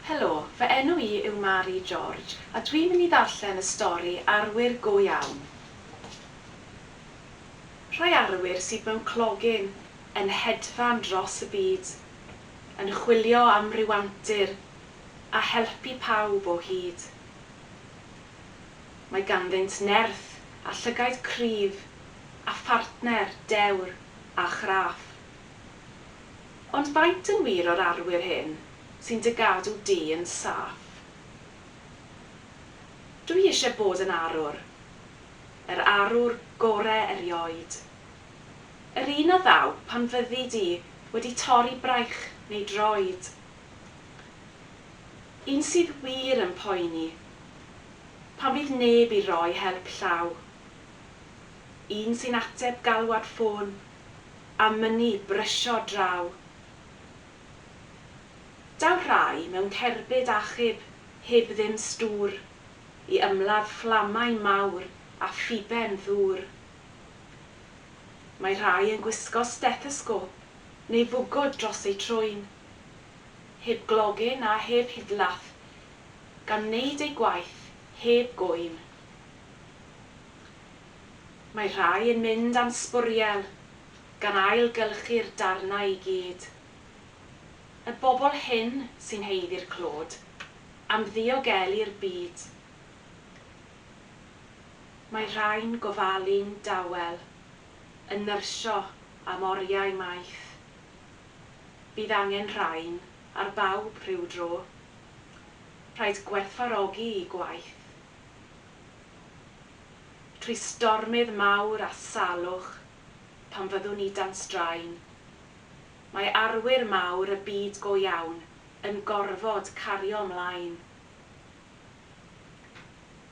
Helo, fy enw i yw Mari George a dwi'n mynd i ddarllen y stori Arwyr Go Iawn. Rhai arwyr sydd mewn clogyn yn hedfan dros y byd, yn chwilio am ryw antur a helpu pawb o hyd. Mae ganddynt nerth a llygaid cryf a phartner dewr a chraff. Ond faint yn wir o'r arwyr hyn sy'n dy gadw di yn saff? Dw i eisiau bod yn arwr, yr arwr gore erioed. Yr un a ddaw pan fyddi di wedi torri braich neu droed. Un sydd wir yn poeni pan fydd neb i roi help llaw. Un sy'n ateb galwad ffôn a mynnu brysio draw. Daw rhai mewn cerbyd achub heb ddim stŵr i ymladd fflamau mawr a phuben ddŵr. Mae rhai yn gwisgo stethosgôp neu fwgwd dros eu trwyn, heb glogyn a heb hidlaff, gan wneud eu gwaith heb gŵyn. Mae rhai yn mynd am sbwriel, gan ailgylchu'r darnau i gyd. Y bobl hyn sy'n haeddu'r clod, am ddiogelu'r byd. Mae rhai'n gofalu'n dawel, yn nyrsio am oriau maith. Bydd angen rhain ar bawb rhyw dro. Rhaid gwerthfawrogi'u gwaith. Trwy stormydd mawr a salwch, pan fyddwn ni dan straen, mae arwyr mawr y byd go iawn yn gorfod cario 'mlaen.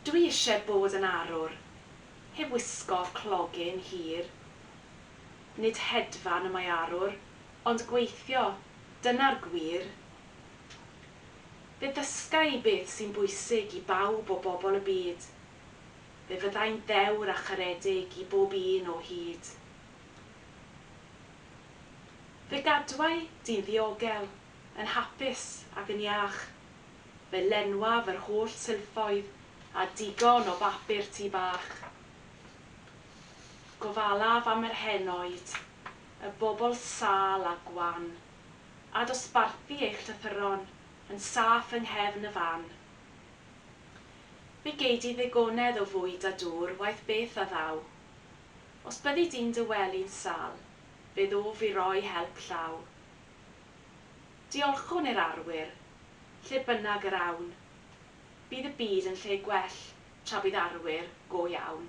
Dwi isie bod yn arwr, heb wisgo clogyn hir. Nid hedfan y mae arwr, ond gweithio, dyna'r gwir. Fe ddysga i beth sy'n bwysig i bawb o bobl y byd. Fe fyddai'n ddewr a charedig i bob un o hyd. Fe gadwai di'n ddiogel, yn hapus ac yn iach. Fe lenwaf yr holl silffoedd a digon o bapur tŷ bach. Gofalaf am yr henoed, y bobl sâl a gwan, a dosbarthu eich llythyron yn saff yng nghefn y fan. Fe gei di ddigonedd o fwyd a dŵr waeth beth a ddaw. Os byddi di'n dy wely'n sâl, fe ddof i roi help llaw. Diolchwn i'r arwyr, lle bynnag yr awn. Bydd y byd yn lle gwell tra bydd arwyr go iawn.